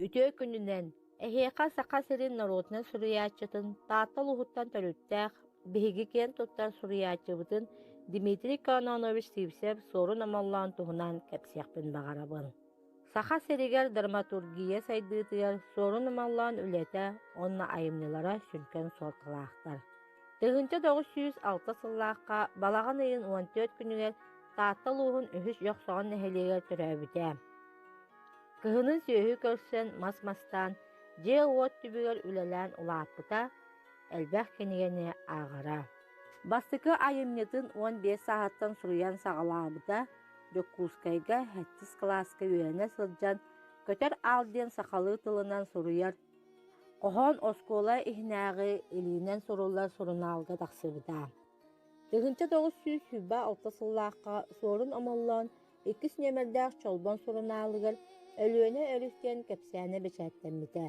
Үтүө күнүнэн, эһиэхэ Саха сирин норуотунай суруйааччытын Таатта улууһуттан төрүттээх, биһиги киэн туттар суруйааччыбытын Дмитрий Кононович Сивцев-Суорун Омоллоон туһунан кэпсиэхпин баҕарабын. Саха сиригэр драматургия сайдыытыгар Суорун Омоллоон үлэтэ уонна айымньылара сүҥкэн суолталаахтар. Тыһыынча тоҕус сүүс алта сыллаахха балаҕан ыйын уон түөрт күнүгэр Таатта улууһун үһүс Дьохсоҕон нэһилиэгэр төрөөбүтэ. Кыһынын сүөһү көрсөн мас мастаан, дьиэ-уот түбүгэр үлэлээн улааппыта, элбэх кинигэни ааҕара. Бастакы айымньытын уон биэс сааһыттан суруйан саҕалаабыта, Дьокуускайга сэттис кылааска үөрэнэ сылдьан «Көтөр аал» диэн сахалыы тылынан суруйар, хоһоон оскуола иһинээҕи илиинэн суруллар сурунаалга тахсыбыта. Тыгынча тоҕус сүүс сүүрбэ алта сыллаахха Суорун Омоллоон иккис нүөмэрдээх Чолбон сурунаалыгар Өлүөнэ өрүс диэн кэпсээнэ бэчээттэммитэ.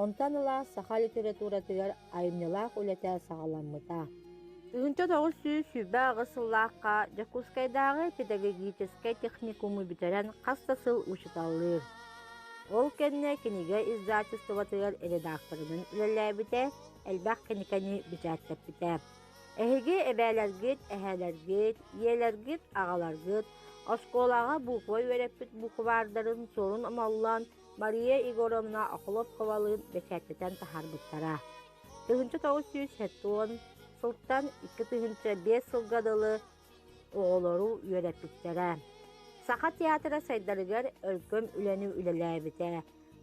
Онтон ыла саха литературатыгар айымньылаах үлэтэ саҕаламмыта. Тыгынча тоҕус сүүс сүүрбэ аҕыс сыллаахха Дьокуускайдааҕы педагогическай техникуму бүтэрэн хас да сыл учууталлыыр. Ол кэннэ кинигэ издательствотыгар редакторынан үлэлээбитэ, элбэх кинигэни бэчээттэппитэ. Эһиги эбээлэргит, эһээлэргит, ийэлэргит, аҕаларгыт оскуолаҕа буква үөрэппит букваардарын суорун омоллон Мария Егоровна Охлопковалыын бэчээттэтэн таһаарбыттара. Тыһыынча тоҕус сүүс сотон сылтан икки тыһыынча биэс сылга дылы оҕолору үөрэппиттэрэ. Саха театра сайдарыгар өркөм үлэни үлэлээбитэ,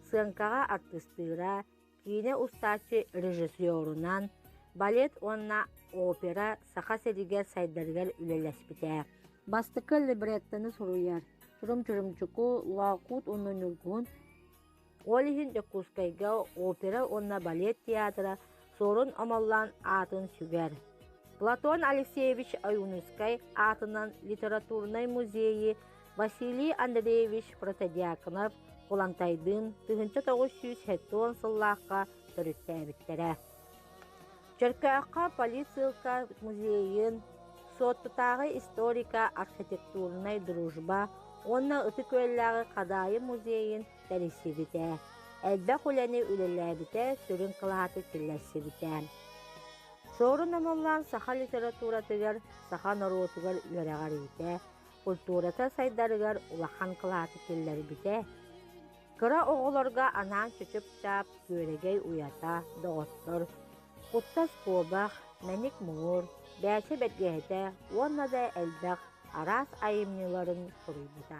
сыаҥкаҕа артыстыыра, Киинэ устааччы режиссерунан, балет уонна опера Саха сиригэр сайдарыгар үлэлэспитэ. Бастакы либреттоны суруйар Чурум Чурумчуку Лоокуут уонна Ньургуһун ол иһин Дьокуускайга опера уонна балет театра Суорун Омоллоон аатын сүгэр. Платон Алексеевич Аюнускай аатынан литературнай музейи Василий Андреевич Протодьяконов Кулантайдыын тыһыынча тоҕус сүүс сүүс сыллаахха төрүттээбиттэрэ. Чөркөөххө политсыылка музейын, Суоттутааҕы историко-архитектурнай дружба уонна Ытык-Үөллээҕи Хадаайы музейын тэрийсибитэ, элбэх үлэни үлэлээбитэ, сүрүн кылааты киллэрсибитэ. Суорун Омоллоон саха литературатыгар, саха норуотугар үөрэҕэр иитэ, культурата сайдарыгар улахан кылааты киллэрбитэ. Кыра оҕолорго анаан чычып-чаап, күөрэгэй уйата, доҕоттор, куттас куобах, мэник муҥур, бээчэ бэргэһэтэ уонна да элбэх араас айымньыларын суруйбута.